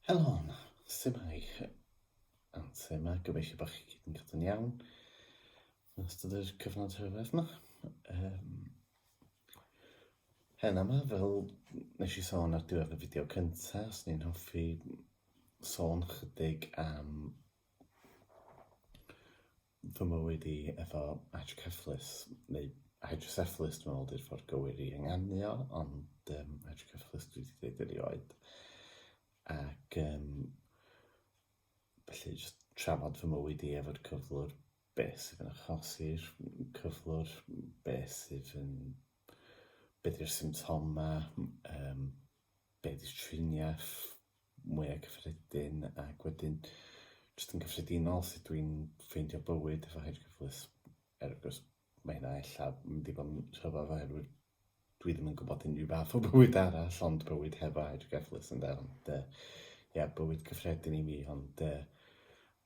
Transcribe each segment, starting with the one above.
Helo, symai, and symai, gobeithio bod chi gyd yn cadw'n iawn yn ystod yr cyfnod rhyfedd yma. Um, hen yma, fel nes i sôn ar diwedd y fideo cynta, os ni'n hoffi sôn chydig am fy mywyd i efo hydrocephalus neu hydrocephalus dwi'n meddwl ydy'r ffordd gywir i ynganu o, ond um, hydrocephalus dwi wedi dweud erioed. Ac um, felly jyst trafod fy mywyd i efo'r cyflwr, beth sydd yn achosi'r cyflwr, beth sydd yn... beth yw'r symptomau, um, beth yw'r triniaeth, mwy o cyffredin ac wedyn jyst yn gyffredinol sut dwi'n ffeindio bywyd efo hyd cyfflus er gwrs mae hynna ella mynd i fod yn rhyfedd oherwydd dwi ddim yn gwybod unrhyw fath o bywyd arall ond bywyd hefo hyd cyfflus yn dda ond uh, ia bywyd cyffredin i mi ond uh,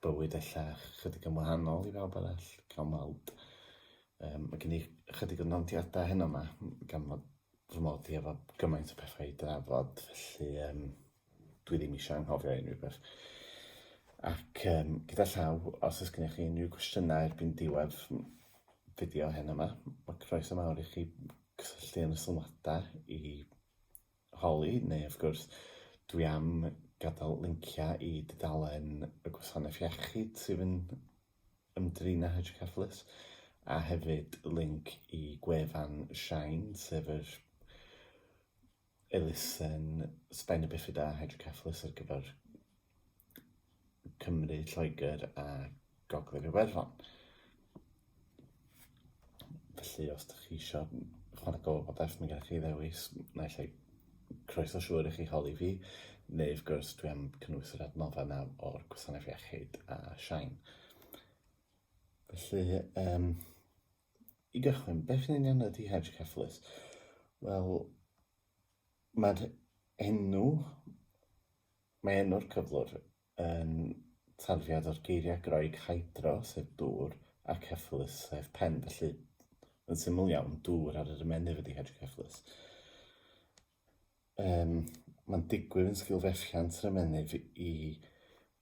bywyd ella chydig yn wahanol i bawb arall cael mawd um, mae gen i chydig o nodiadau heno yma gan fod fy mod i efo gymaint o pethau i drafod, felly um, dwi ddim eisiau anghofio unrhyw beth. Ac um, gyda llaw, os ys gennych chi unrhyw gwestiynau erbyn diwedd fideo hyn yma, mae croeso mawr i chi cysylltu yn y sylwadau i holi, neu wrth gwrs, dwi am gadael linciau i dudalen y gwasanaeth iechyd sydd yn ymdrin â hydroceffalus, a hefyd linc i gwefan Shine, sef yr elusen Sbaen a Bifida Hydroceffalus ar gyfer Cymru, Lloegr a Gogledd Iwerddon. Felly os ydych chi eisiau chwarae gofal bodeth, mae gennych chi ddewis, naill ai croeso siŵr i chi holi fi, neu wrth gwrs dwi am cynnwys yr adnoddau yna o'r gwasanaeth iechyd a Siain. Felly, um, i gychwyn, beth yn union ydy hydrocephalus? Wel, mae'r enw, mae enw'r cyflwr yn tarddiad o'r geiriau Groeg hydro, sef dŵr, ac cephalus, sef pen, felly, yn syml iawn, dŵr ar yr ymennydd ydy hydrocephalus. Um, mae'n digwydd yn sgil fethiant yr ymennydd i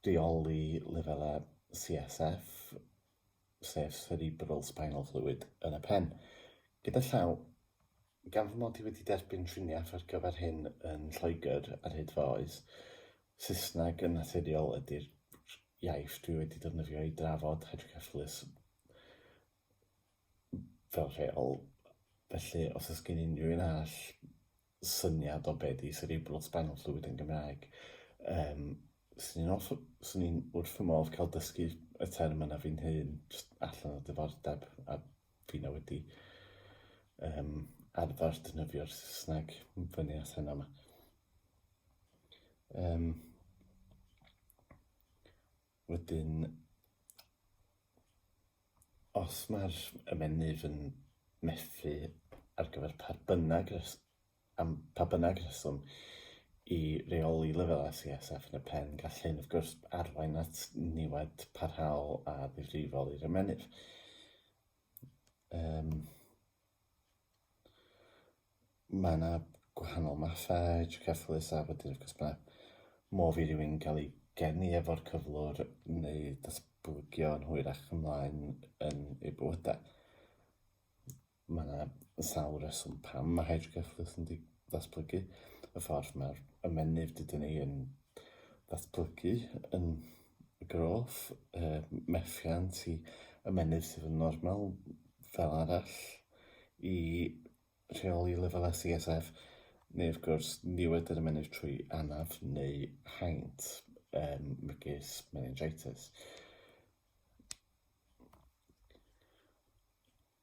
reoli lefelau CSF, sef cerebral spinal fluid, yn y pen. Gyda llaw, Gan fy mod i wedi derbyn triniaeth ar gyfer hyn yn Lloegr ar hyd fy oes, Saesneg yn naturiol ydy'r iaith dwi wedi defnyddio i drafod hydrocephalus fel rheol, felly os oes gen unrhyw un arall syniad o be di cerebral spinal fluid yn Gymraeg, yym, swn i'n hoff... swn i'n wrth fy modd cael dysgu y term yna fi'n hun, jyst allan o diddordeb, a Fi na wedi um, arfer dynydio'r Saesneg yn fyny at hynna yma. Um, wedyn, os mae'r ymenydd yn methu ar gyfer pa bynnag Am pa bynnag reswm, i reoli lefelau CSF yn y pen, gall hyn, wrth gwrs, arwain at niwed parhaol a ddifrifol i'r ymennydd. Um, mae yna gwahanol mathau tricyfflus a wedyn, wrth gwrs, mae modd i rywun gael ei geni efo'r cyflwr neu datblygio yn hwyrach ymlaen yn ei bywydau. Mae yna sawl reswm pam mae hydroceffyl yn datblygu, y ffordd mae'r ymennydd dydyn ni yn datblygu yn y groth, y methiant i ymennydd sydd yn normal fel arall i rheoli lefelau CSF, neu wrth gwrs niwed yr ymennydd trwy anaf neu haint, um, megis meningitis.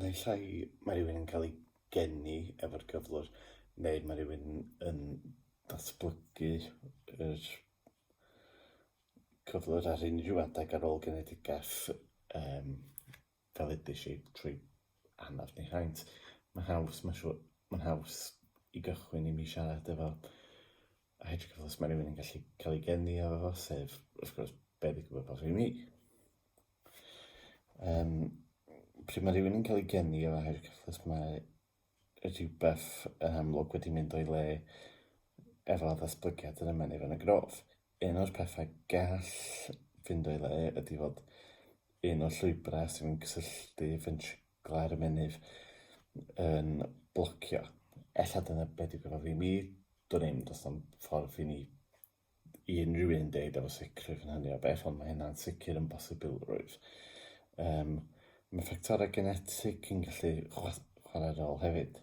Naill ai mae rhywun yn cael ei geni efo'r cyflwr, neu mae rhywun yn datblygu yr cyflwr ar unrhyw adeg ar ôl genedigaeth, yym, fel edes i trwy anaf neu haint. Mae'n haws, mae'n siŵr, mae'n haws i gychwyn i mi siarad efo os mae rhywun yn gallu cael ei geni efo fo, sef, wrth gwrs, be' ddigwyddodd i mi. Um, pryd mae rhywun yn cael ei geni o air cyfflus mae rhywbeth yn amlwg wedi mynd o'i le efo ddatblygiad yr ymennydd yn y grof. Un o'r pethau gall fynd o'i le ydy fod un o'r llwybrau sy'n mynd cysylltu fentrigla'r ymennydd yn blocio. Ella dyna beth yw gyda fi, mi dwn i'n does am ffordd i ni i unrhyw un deud efo sicrwydd yn hynny o beth, ond mae hynna'n sicr yn bosibilrwydd. Um, mae ffactorau genetig yn gallu chwarae rôl hefyd.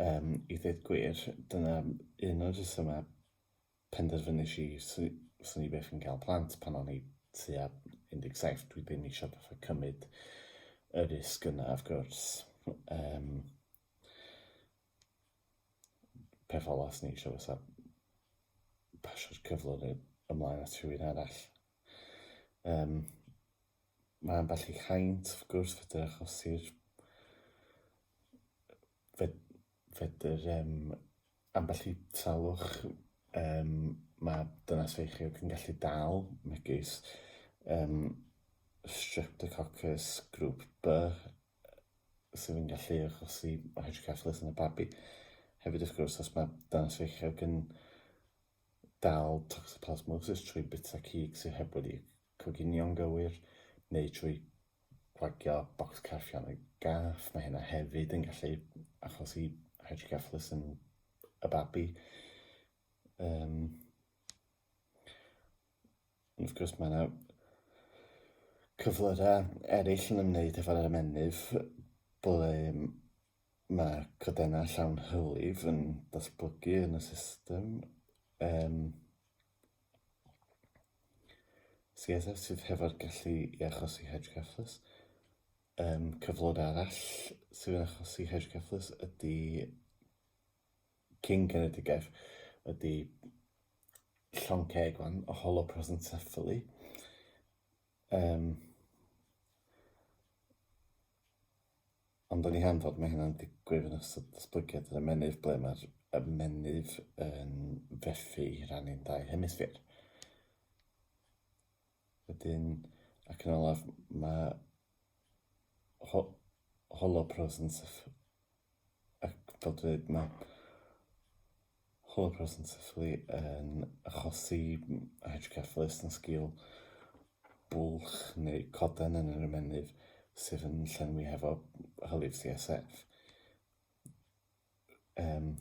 Um, I ddweud gwir, dyna un o'r rhesymau penderfynus i swn i beth yn cael plant pan o'n i tua 17. Dwi ddim eisiau fatha cymryd y risg yna, of gwrs. Um, peth ola sy'n eisiau fysa pasio'r cyflwr neu ymlaen at rhywun arall. Um, mae ambell i haint, wrth gwrs, fydr achosi'r fedr um, ambell i salwch um, mae dynas feichiog yn gallu dal, megis um, streptococcus grŵp B, sydd yn gallu achosi hydrocephalus yn y babi. Hefyd, wrth gwrs, os mae dynas feichiog yn dal toxoplasmosis trwy bita cig sydd heb wedi coginio'n gywir, neu trwy gwagio bocs carfion y gath, mae hynna hefyd yn gallu achosi hydrocephalus yn y babi. Um, Ond wrth gwrs mae yna cyflyrau eraill yn ymwneud efo'r ymennydd ble mae codennau llawn hylif yn datblygu yn y system. Um, CSF sydd hefo'r gallu i achosi hydrocephalus. Um, cyflwr arall sydd yn achosi hydrocephalus ydy King Genedigaeth ydy llong ceg fan, o hollow prosencephaly. Um, ond o'n i hen fod mae hynna'n digwydd yn ystod datblygiad yr ymenydd ble mae'r ymenydd yn fethu i rannu'n dau hemisffer. Wedyn, ac yn olaf, mae ho holo pros yn syff... Ac fel dwi'n dweud, mae holo pros yn syfflu yn achosi hydrocephalus yn sgil bwlch neu coden yn yr ymennydd sydd yn llenwi hefo hylif CSF. Um,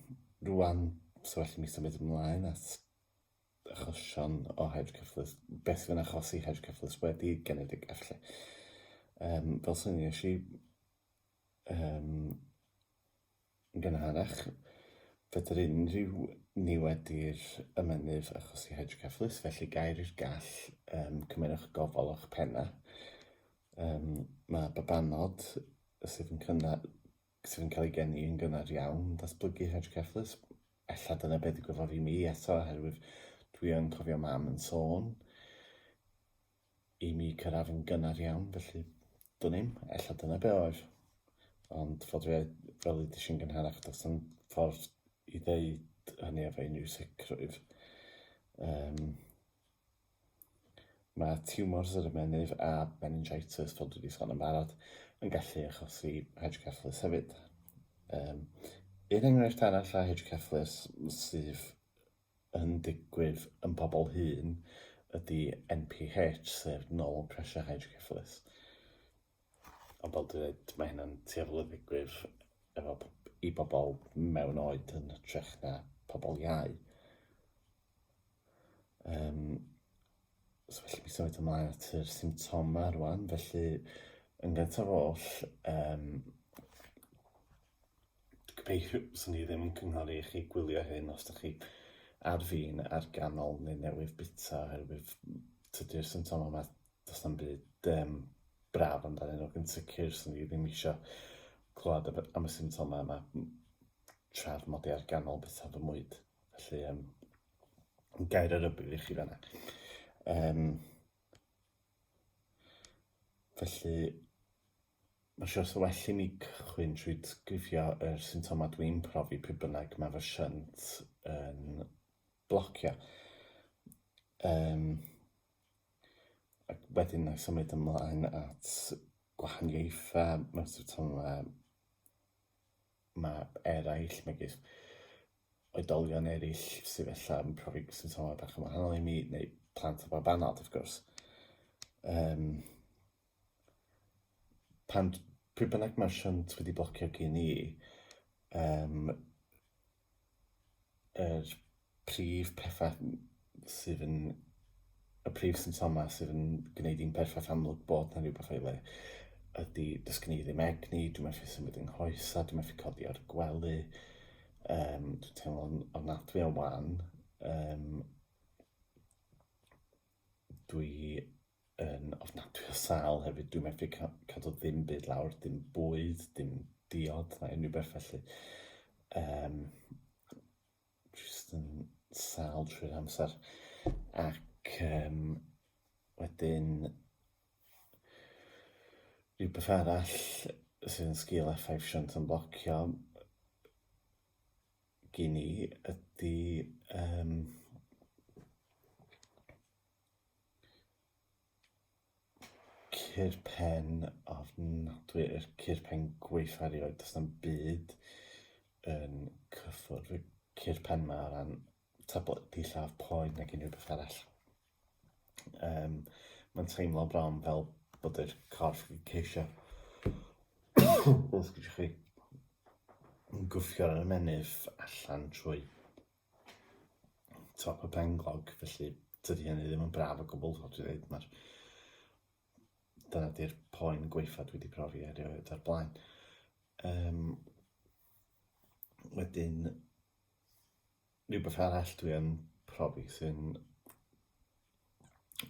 rwan, so well i mi symud ymlaen at achosion o hedge cyfflus, beth sy'n achosi hedge cyfflus wedi genedig efallai. Um, fel sy'n nes i um, gynharach, fydr unrhyw ni wedi'r ymenydd achosi hedge cyfflus, felly gair i'r gall um, cymerwch gofal o'ch penna. Um, mae babanod sydd yn cynnal sydd yn cael ei geni yn gynnar iawn, datblygu hydrocephalus. Ella dyna beth y gwyfodd i mi eto, oherwydd dwi yn cofio mam yn sôn i mi cyrraedd yn gynnar iawn, felly dwn i'm, ella dyna be oedd. Ond fod fi, fel i ddysgu'n gynharach, does yn ffordd i ddeud hynny efo unrhyw sicrwydd. Um, Mae tiwmors yr ymennydd a meningitis, fel dwi 'di sôn yn barod, yn gallu achosi hydrocephalus hefyd. Um, un enghraifft arall o hydrocephalus sydd yn digwydd yn pobl hŷn ydy NPH, sef nol pressure hydrocephalus. Ond fel dwi dweud, mae hynna'n tueddol o ddigwydd efo i bobl mewn oed yn hytrach na pobl iau. Um, so felly mi symud ymlaen at yr symptomau rwan, felly yn gyntaf oll, um, gobeithio sy'n ni ddim yn cynghori i chi gwylio hyn os ydych chi ar fin ar ganol neu newydd bita oherwydd tydy'r symptomau yma, does na'm byd um, braf amdano nhw, yn sicr sy'n ni ddim eisiau clywed am y symptomau yma trafod ar ganol bita fy mwyd. Felly, um, gair ar ybydd i chi fanna. Um, felly, mae'n siwr sy'n well i mi cychwyn trwy grifio yr er symptomau dwi'n profi pe bynnag mae fy synt yn blocio. Um, ac wedyn na symud ymlaen at gwahaniaethau mewn symptomau mae eraill, megis oedolion eraill sydd ella yn profi symptomau bach yn wahanol i mi, neu plant o bob anad, wrth gwrs. Um, pan, pryd bynnag mae'r shunt wedi blocio gen i, um, yr prif pethau sydd yn... y prif symptomau sydd yn gwneud i'n perffaith amlwg bod 'na rhywbeth o'i le ydi does gen i ddim egni, dwi methu symud yng nghoesau, dwi methu codi o'r gwely, yym dwi'n teimlo'n ofnadwy o wan, yym dwi yn ofnadwy o sâl hefyd, dwi'n methu cadw ddim byd lawr, dim bwyd, dim diod na unrhyw beth felly. Um, just yn sâl trwy'r amser. Ac um, wedyn, rhywbeth arall sydd yn sgil effaith siant yn blocio gyn i ydy um, Ceir pen ofnadwy i'r ceir pen gwaetha erioed, does na'm byd yn cyffwrdd y ceir pen ma o ran tabledi lladd poen nag unrhyw beth arall. Um, mae'n teimlo bron fel bod yr corff yn ceisio os gydwch chi yn gwffio ar y menydd allan trwy top y penglog, felly tydi hynny ddim yn braf o gwbl, fel dwi'n dweud, mae'r dyna di'r poen gweitha dwi wedi profi erioed o'r blaen. Um, wedyn, rhywbeth arall dwi yn profi sy'n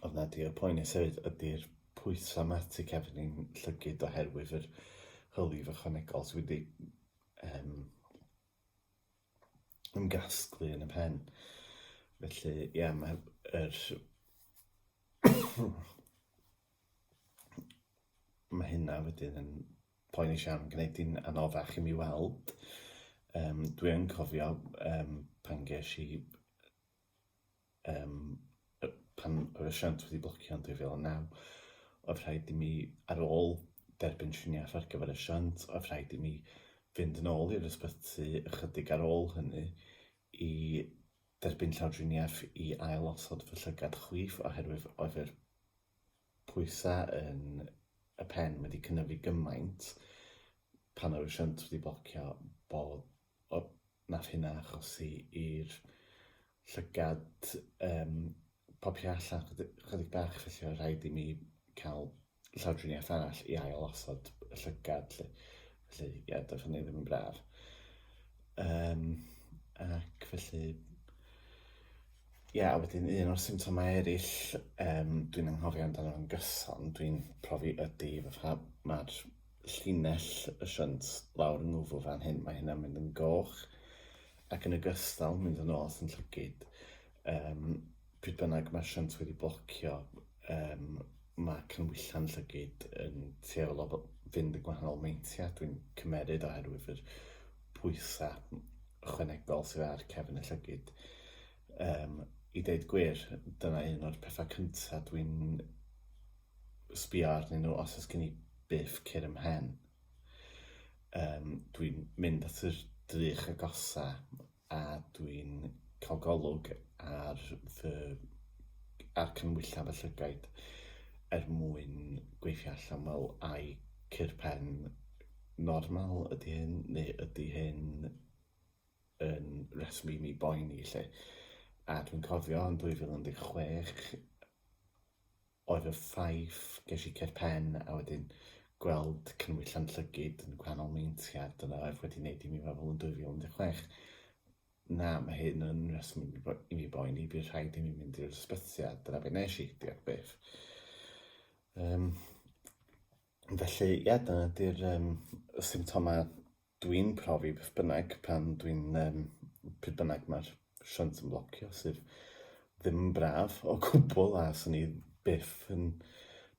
oedd na di'r poen i sefyd ydy'r pwysau mae tu cefn i'n llygyd oherwydd yr hylif ychwanegol sydd wedi um, yn gasglu yn y pen. Felly, ie, yeah, mae yr... mae hynna wedyn yn poeni siarad yn gwneud i'n anoddach i mi weld. Um, Dwi'n cofio um, pan ges i um, pan yr asiant wedi blocio yn 2009, oedd rhaid i mi, ar ôl derbyn triniaeth ar gyfer y siant, oedd rhaid i mi fynd yn ôl i'r ysbyty ychydig ar ôl hynny i derbyn llawdriniaeth i ail osod fy llygad chwith oherwydd oedd yr pwysau yn y pen wedi cynyddu gymaint pan oedd y siant wedi blocio bod O, wnaeth hynna achosi i'r llygad yym popio allan chydig chydig bach felly oedd rhaid i mi cael llawdriniaeth arall i ail-osod y llygad 'lly. Felly ie, doedd hynny ddim yn braf. Yym ac felly ie, a wedyn un o'r symptomau eraill yym dwi'n anghofio amdano fo'n gyson, dwi'n profi ydi fatha ma'r llinell y siant lawr yng ngwddw fan hyn, mae hynna'n mynd yn goch ac yn ogystal mynd yn ôl sy'n llygyd. Um, pryd bynnag mae'r siant wedi blocio, um, mae cynwyllan llygyd yn tueddol o fynd yn gwahanol meintiau, dwi'n cymeryd oherwydd yr pwysau chwenegol sydd ar cefn y llygyd. Um, I ddeud gwir, dyna un o'r pethau cyntaf dwi'n sbio arnyn nhw os oes gen i biff cur ym mhen. Um, dwi'n mynd at yr drych agosa a dwi'n cael golwg ar fy ar cynwylla fy llygaid er mwyn gweithio allan fel ai cur pen normal ydy hyn neu ydy hyn yn reswm i mi boeni lle. A dwi'n cofio yn 2016 oedd y ffaith, ges i cur pen a wedyn gweld cynwyll Llanllygid yn gwahanol meintiau, dyna oedd wedi wneud i mi feddwl yn 2016, na, mae hyn yn reswm i mi, bo, i mi boeni, bydd rhaid i mi mynd i'r ysbyty, a dyna beth nes i, diolch byth. Um, felly, ie, yeah, dyna di'r um, symptomau Dwi'n profi beth bynnag pan dwi'n um, pryd bynnag mae'r shunt yn blocio sydd ddim yn braf o gwbl a sy'n ni byth yn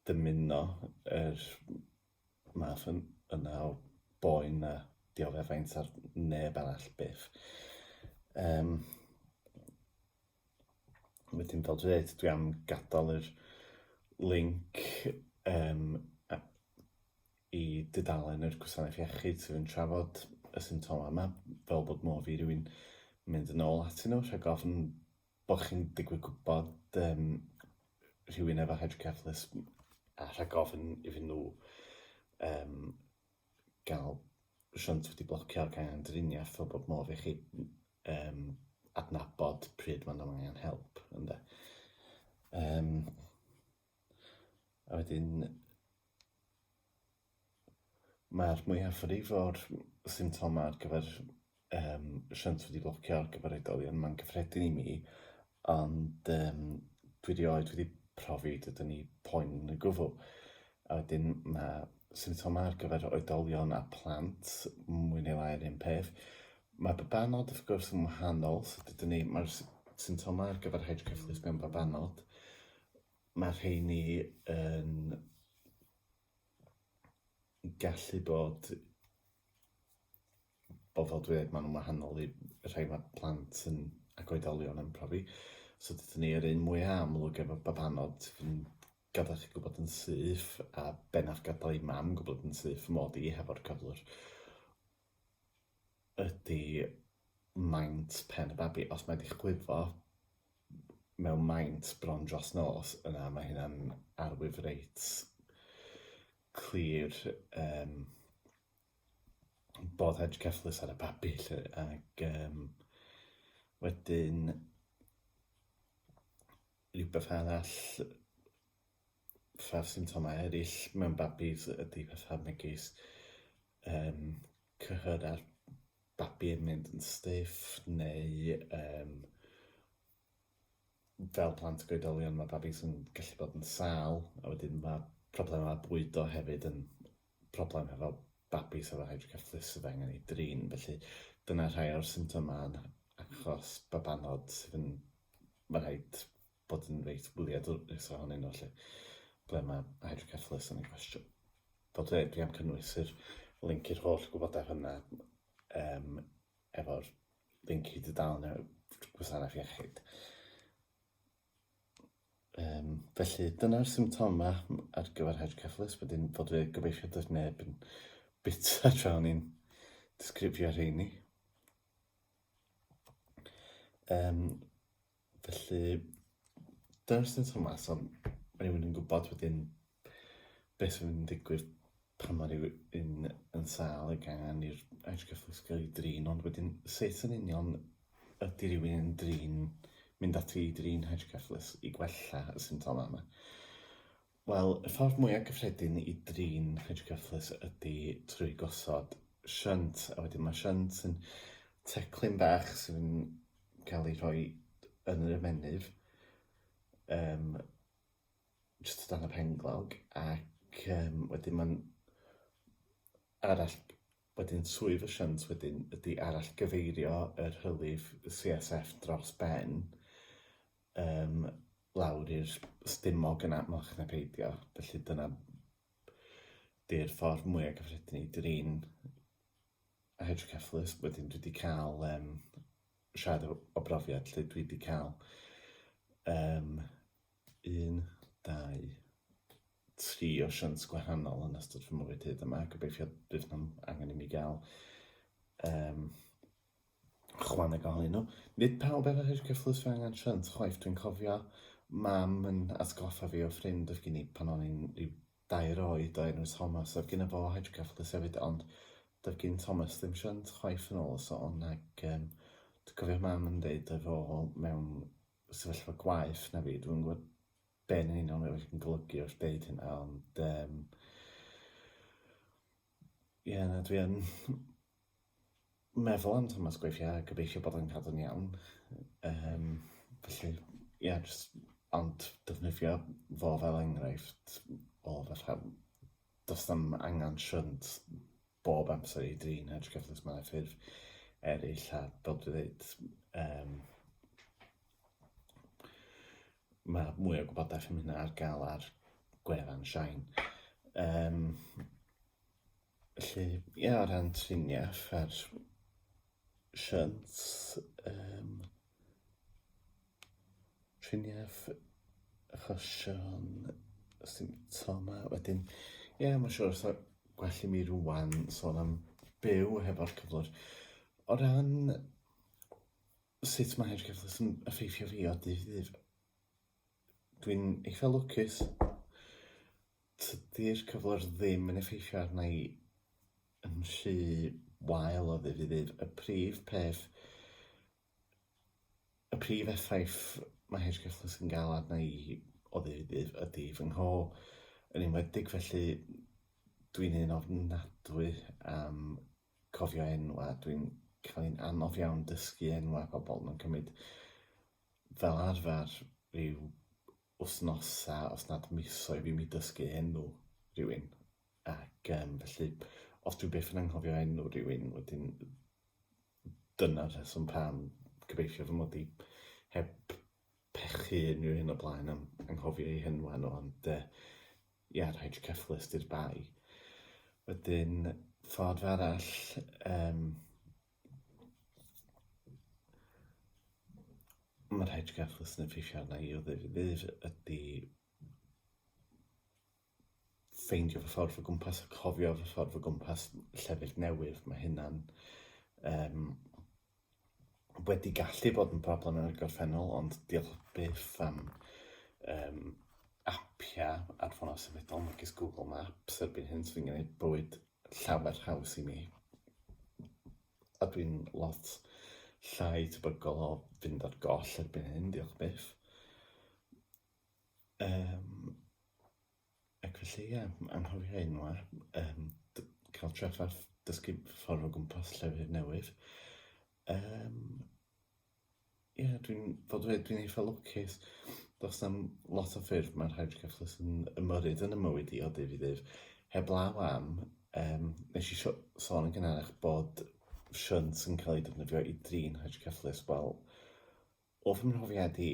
dymuno yr math yn, yna o boen a dioddefaint ar neb arall byth. Um, wedyn fel dwi dweud, dwi am gadael yr link um, Y dudalen yr gwasanaeth iechyd sydd yn trafod y symptomau yma, fel bod modd i rywun mynd yn ôl atyn nhw rhag ofn bod chi'n digwydd gwybod um, rhywun efo hydrocephalus a rhag ofn iddyn nhw um, gael shunt wedi blocio gan angen driniaeth fel bod modd i chi um, adnabod pryd mae'n angen help. Ynde? Um, A wedyn mae'r mwyafrif o'r symptomau ar gyfer yym shunt wedi blocio ar gyfer oedolion, mae'n gyffredin i mi, ond yym dwi 'rioed wedi profi dod yn eu poen yn y gwbl. A wedyn ma' symptomau ar gyfer oedolion a phlant mwy neu lai yr un peth, ma' babanod wrth gwrs yn wahanol, so dydyn ni... ma'r s- symptomau ar gyfer hydrocephalus mewn babanod Mae rheini yn gallu bod o fel dwi maen nhw'n wahanol i rhai mae plant yn ac oedolion yn profi. So dydyn ni yr un mwyaf amlwg efo babanod sydd yn gadael chi gwybod yn syth a bennaf gadael i mam gwybod yn syth mod i hefo'r cyflwr. ydy maint pen y babi. Os mae 'di chwifo mewn maint bron dros nos, yna mae hynna'n arwydd reit clir yym bod edge cyfflus ar y babi 'lly ac yym wedyn rhywbeth arall, fatha'r symptomau eryll mewn babis ydy fatha megis um, cyhyd ar babi yn mynd yn stiff, neu um, fel plant goedolion mae babi sy'n gallu bod yn sal, a wedyn mae problemau bwydo hefyd yn problem hefo babi sydd efo hydrocephalus sydd angen ei drin. Felly dyna rhai o'r symptomau achos babanod sydd yn... Mae rhaid bod yn reit wyliadwrus ohonyn nhw lle ble mae hydrocephalus yn ei gwestiwn. Bod e, dwi am cynnwys yr link i'r holl gwybodaeth yna um, efo'r link i dudalen y gwasanaeth iechyd. Um, felly dyna'r symptoma ar gyfer hydrocephalus, wedyn fod fe gobeithio does neb yn bita tra o'n i'n disgrifio rheini. Um, Felly, dyna jyst yn Thomas, ond mae rhywun yn gwybod wedyn beth sy'n mynd i ddigwydd pan mae rhywun yn sal y gan i'r Irish Catholic School i drin, ond wedyn sut yn union ydy rhywun yn drin, mynd ati i drin Irish Catholics i gwella y symptomau yma. Wel, y ffordd mwyaf cyffredin i drin cringe cyfflus ydy trwy gosod shunt, a wedyn mae shunt yn teclyn bach sy'n cael ei rhoi yn yr ymennydd, um, jyst o dan y penglog, ac um, wedyn mae'n arall Wedyn swydd y shunt wedyn ydy arallgyfeirio yr hylif CSF dros ben yym lawr i'r stumog yn amlach na peidio, felly dyna 'di'r ffordd mwya' cyffredin i drin hydrocephalus. Wedyn dwi 'di ca'l yym siarad o o brofiad 'lly dwi 'di ca'l yym un, dau, tri osiant gwahanol yn ystod fy mywyd hyd yma. Gobeithio bydd nhw'n angen i mi gael um, chwaneg ohonyn nhw. Nid pawb efo hir cyfflus fe angen shunt chwaith. Dwi'n cofio mam yn atgoffa fi o ffrind oedd gen i pan o'n i'n rhyw dair oed o enw Thomas. Oedd gen i fo hir cyfflus hefyd, ond doedd gen Thomas ddim shunt chwaith yn ôl y sôn. Ac um, dwi'n cofio mam yn dweud efo mewn sefyllfa gwaith na fi. Dwi'n gwybod be yn union mae wedi golygu wrth deud hynna, ond um, ie, na, dwi yn meddwl am Thomas Gweithio a gobeithio bod yn cadw'n iawn. Um, felly, ie, yeah, just, ond defnyddio fo fel enghraifft o fatha Does dim angen siwnt bob amser i drin hedge cyffrous mewn ffurf eraill a fel dwi'n dweud, um, mae mwy o gwybodaeth am hynna ar gael ar gwefan Shine. Um, felly, ie, yeah, o ran triniaeth a'r siwnt, um, Triniaeth achosion symptomau wedyn. Ie, mae'n siŵr os yw gwell i mi rŵan sôn am byw hefo'r cyflwr. O ran sut mae yr cyflwr yn effeithio fi o dydd i ddydd... Dwi'n eitha lwcus. Tydi'r cyflwr ddim yn effeithio arna i yn rhy wael o ddydd i ddydd. Y prif peth... y prif effaith mae hirgystlys yn gael arna i o ddydd i ddydd ydi fy ngho, yn enwedig felly dwi'n un ofnadwy am cofio enwau, dwi'n cael hi'n anodd iawn dysgu enwau pobl, mae'n cymryd fel arfer rhyw wthnosa os nad misoedd i mi dysgu enw rhywun ac yym felly os dwi byth yn anghofio enw rhywun wedyn dyna'r rheswm pam gobeithio fy mod i heb pechu unrhyw un o blaen am anghofio eu henwa nhw ond yy ia rhaid cyfflys di'r bai. Wedyn ffordd arall yym Mae'r rhai trigafwyr sy'n effeithio arna i o ddydd i ddydd ydy ffeindio fy ffordd o gwmpas a cofio fy ffordd o gwmpas llefydd newydd. Mae hynna'n um, wedi gallu bod yn broblem yn y gorffennol, ond diolch byth am um, apiau ar ffonau symudol megis Google Maps erbyn hyn sy'n gwneud bywyd llawer haws i mi. A dwi'n lot llai tebygol o fynd ar goll erbyn hyn, diolch byth. Um, ac felly, ie, anghofio enwa, um, cael treffath dysgu ffordd o gwmpas llefydd newydd. Um, Ie, dwi'n fod dweud, dwi'n eitha lwcus. Does na'm lot o ffyrdd mae rhai brecwast yn ymyrryd yn y mywyd i o dydd i ddydd. Heblaw am, um, nes i sio- sôn yn gynharach bod shunt yn cael ei defnyddio i drin hydrocefflus. Wel, o fy mhrofiad i,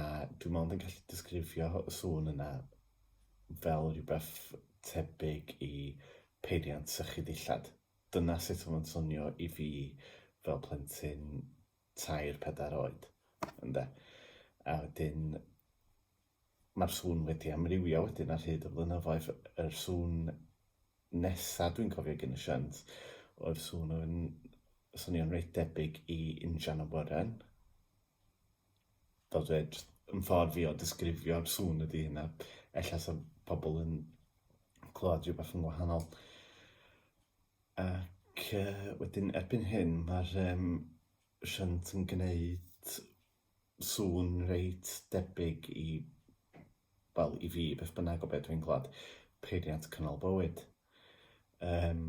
A dwi mond yn gallu disgrifio y sŵn yna fel rhywbeth tebyg i peiriant sychu dillad. Dyna sut oedd o'n swnio i fi fel plentyn tair, pedair oed, ynde? A wedyn mae'r sŵn wedi amrywio wedyn ar hyd y flynyddoedd. Yr sŵn nesa dwi'n cofio gyn y shunt oedd sŵn oedd yn swnio'n reit debyg i injan awyren. fel dweud, yn ffordd fi o disgrifio'r sŵn ydy hynna. Ella sa pobl yn clywed rhywbeth yn wahanol. Ac uh, wedyn erbyn hyn mae'r um, shunt yn gwneud sŵn reit debyg i, wel i fi, beth bynnag o beth dwi'n clywed, peiriant cynnal bywyd. Um,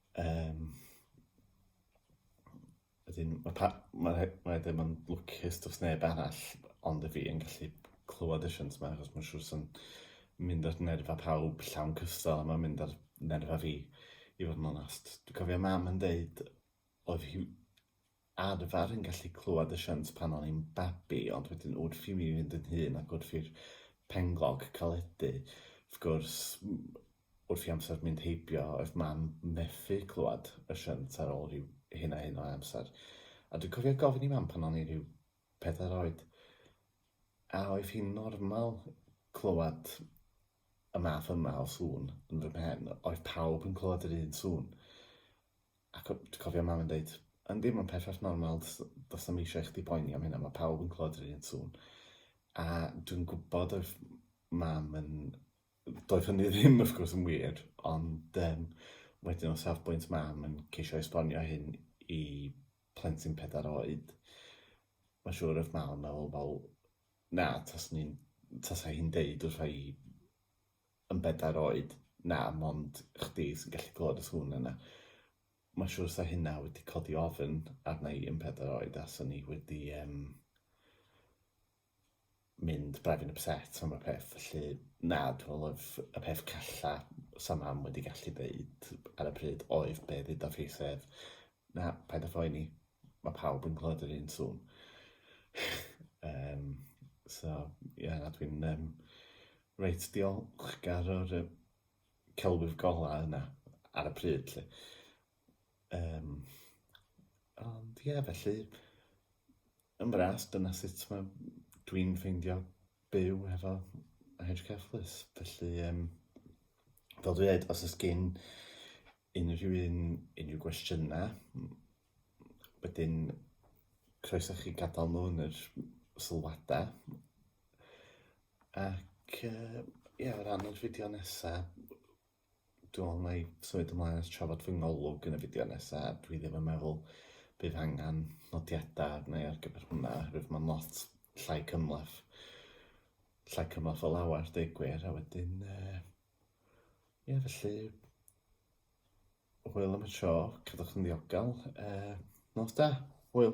Um, ydyn, mae pa, ma, ma ddim yn lwcus dros neb arall, ond y fi yn gallu clywed y siwnt yma, achos mae'n siŵr sy'n mynd ar nerfa pawb llawn cystal, a mae'n mynd ar nerfa fi, i fod yn onast. Dwi'n cofio mam yn deud, oedd hi arfer yn gallu clywed y shunt pan o'n i'n babi ond wedyn wrth i mi fynd yn hŷn ac wrth i'r penglog caledu wrth gwrs wrth i amser mynd heibio oedd mam methu clywed y shunt ar ôl rhyw hyn a hyn o amser a dwi'n cofio gofyn i mam pan o'n i rhyw pedair oed a oedd hi'n normal clywed y math yma o sŵn yn fy mhen oedd pawb yn clywed yr un sŵn Ac o, dwi cofio mam yn deud, yndi, mae'n perffaith normal, does, does na'm eisiau i chdi boeni am hynna, mae pawb yn clywed yr un sŵn. A dwi'n gwybod oedd mam yn... Doedd hynny ddim, wrth gwrs, yn wir, ond um, wedyn o safbwynt mam yn ceisio esbonio hyn i plentyn pedair oed, mae'n siŵr oedd mam yn meddwl, wel, na, tas ni'n... Tasa hi'n deud wrth i yn bedair oed, na, mond chdi sy'n gallu clywed y sŵn yna. Mae'n siŵr sa hynna wedi codi ofn arna i yn pedair oed a sa ni wedi um, mynd braidd yn upset am y peth. Felly, na, dwi'n meddwl y peth calla sa mam wedi gallu dweud ar y pryd oedd be ddeuda fi sef, na, paid â phoeni, mae pawb yn clywed yr un sŵn. um, so, ie, yeah, na, dwi'n... Um, Reit, diolchgar o'r yy celwydd golau yna ar y pryd 'lly. Yym, ond ie, felly, yn fras, dyna sut mae dwi'n ffeindio byw hefo HKFLUS. Felly, yym, fel dwi ddeud, os oes gen unrhyw un unrhyw gwestiynau, Wedyn, croeso i chi gadael nhw yn yr sylwadau. Ac yy ie, o ran yr fideo nesa, dwi me'wl wna i symud ymlaen at trafod fy ngolwg yn y fideo nesa, dwi ddim yn meddwl bydd angen nodiadau arna i ar gyfer hwnna oherwydd mae'n lot llai cymhleth, llai cymhleth o lawer deud gwir, a wedyn yy ie felly, Hwyl am y tro, cadwch yn ddiogel. Uh, nos da, hwyl.